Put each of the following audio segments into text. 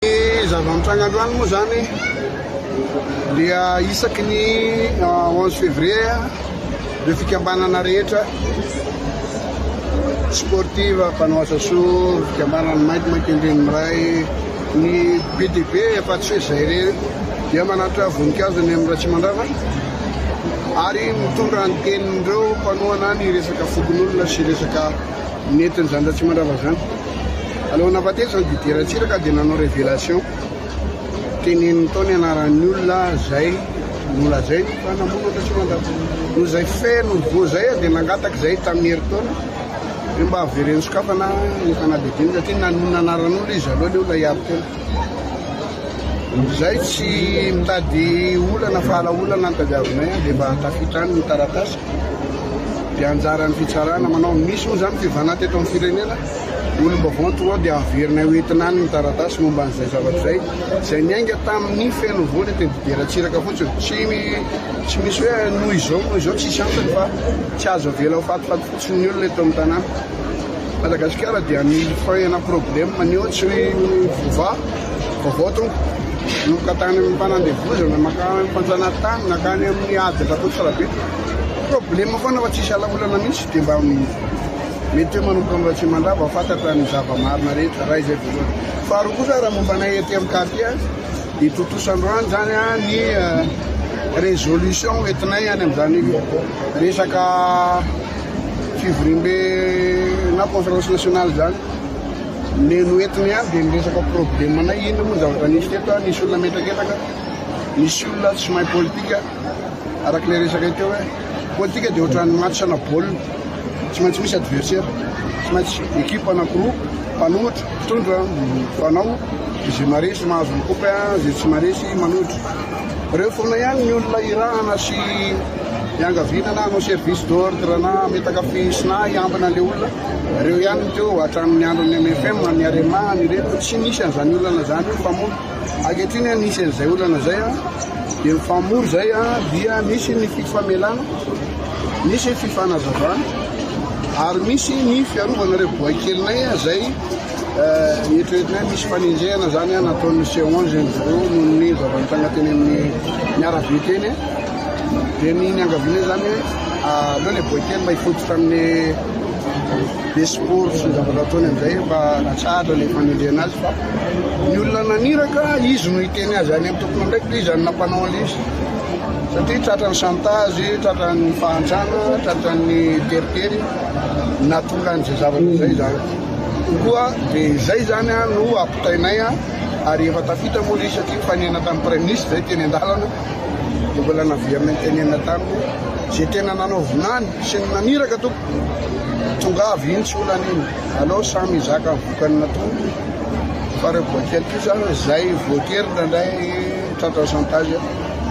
Ny zava-mitranga androany moa izany dia isaky ny 11 février ireo fikambanana rehetra sportive, mpanao asa soa, fikambanan'ny Maître Makendreny Miray, ny BDB afa-tsy hoe izay irery dia manatitra voninkazo eny amin'ny Ratsimandrava ary mitondra ny tenin'ireo mpanohana ny resaka fokonolona sy resaka Nety ny zandry Atsimandrava zany. Alohan'ny nahafatesany Didier Ratsiraka dia nanao révélation, teneniny tao ny anaran'ny olona zay nolazainy fa namono an'Ratsimandrava. Noho zay feno voa zay dia nangataka zay tamin'ny herintaona hoe mba avereno sokafana ny fanadihadiana satria nanonona anaran'olona izy aloha le olona hiaro tena. Zay tsy mitady olana fa ala olana ny tadiavinay dia mba tafita any ny taratasy. Dia anjaran'ny fitsarana manao ny misy moa izany fivanà teto amin'ny firenena. Ny olom-baovao ny tonga ao dia averinay ho entina any ny taratasy momba an'izay zavatra izay, izay niainga tamin'ny feno voany teny Fideratsiraka fotsiny. Tsy tsy misy hoe noho izao noho izao, tsisy antony fa tsy azo avela ho fatifaty fotsiny ny olona eto amin'ny tanàna. Madagasikara dia mille francs ena problème neo tsy voavaha. Vaovao tompoko, nanomboka tany amin'ny mpanandevozana mankany amin'ny mpanjanatany nankany amin'ny ady Rakotorabe. Problema foana fa tsisy ala olana mihitsy dia mba mety hoe manomboka miratsia mandrava vao fantatra ny zava-marina rehetra raha izay voalohany. Faharoa kosa raha momba anay ety amin'ny quartier dia tontosa androany izany ny euh, résolution hoentinay any amin'izany resaka fivoriambe na conférence nationale izany. Ny noentiny ihany dia ny resaka problemanay, inona moa ny zavatra nisy teto, nisy olona metraketraka, nisy olona tsy mahay politika, araka ilay resakay teo hoe politika dia ohatran'ny match ana baolina, tsy maintsy misy adversaire, tsy maintsy équipe anankiroa, mpanohitra, mpitondra, mifanao, izay maresy mahazo ny coupe, izay tsy maresy manohitra. Ireo foana ihany ny olona irahana sy iangaviana na hanao service d'ordre na hametaka fisina hiambina an'ilay olona. Reo ihany no teo hatramin'ny andron'ny mfm an'ny Arema any ireto tsy nisy an'izany olana zany io mpamory. Ankehitriny an nisy an'izay olana zay an dia mifamory zay an dia misy ny fifamelana, misy fifanazavana ary misy ny fiarovana reo boay kelinay an zay eritreretina hoe misy fanenjehana zany an nataon'ny C11 reo noho ny zava-nitranga teny amin'ny arabe teny. dia ny niangaviana izany hoe aleo ilay boaikely mba hifototra amin'ny be sport sy ny zavatra ataony amin'izay mba natsahatra ilay fanendrena azy fa ny olona naniraka izy no hiteny azy any amin'ny tompony ndraiky dia izany nampanao an'ilay izy satria tratra ny chantage tratra ny fahantrana tratra ny teritery natonga an'izay zavatra izay izany koa dia izay izany a no apitainay a ary efa tafita moa izy satria mifanena tamin'ny praiministra izay teny an-dalana dia mbola naverina nitenenina taminy izay tena nanao vinany sy ny naniraka tompoko tongava iny tsy olana iny alao samy hizaka ny vokany natoa fa reo boikely kosa izay voatery indraindray tratra chantage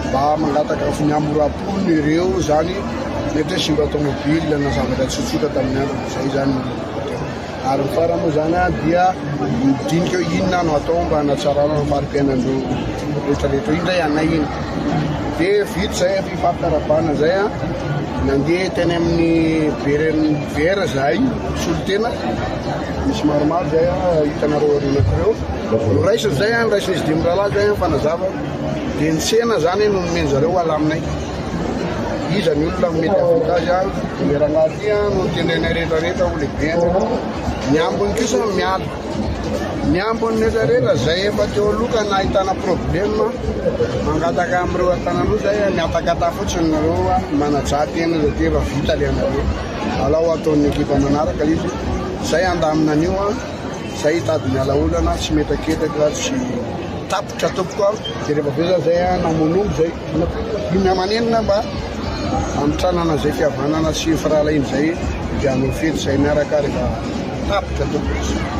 mba mangataka avy ny amoram-pony ireo izany mety hoe simba tomobile na zavatra tsotsotra tamin'ny andro izay izany ary ny farany moa zany an dia dinika hoe inona no atao mba hanatsarana ny fari-piainan'ireo rehetrarehetra iny zay anay iny de vita zay efa ifampiarabana zay an nandeha teny amin'ny beren'ny vera zahay solotena misy maromaro zay an hitanareo aorianako reo noraisiny zay an noraisiny izy dimy rahalahy zay an fanazava de ny sena zany no nomenjareo alaminay Iza ny olona no mety hahavita azy an? Toerana aty an no tendainay rehetra rehetra ho lehibe an. Ny ambiny kosa miala. Ny ambiny rehetra rehetra izay efa teo aloha ka nahitana problème mangataka amin'ireo an-tanan'o izay mihatakata fotsiny nareo an manajà tena izay tena efa vita ilay anareo. Alao ataon'ny ekipa manaraka izy. Izay handamina an'io an. Zay hitady miala olana sy mihetaketaka sy tapitra tompoko an. Dia rehefa avy eo za zay an namonombo zay iny amanenina mba hamitranana zay fihavanana sy firahalahiana zay dia hanao fety zay miaraka rehefa tapitra tompoko.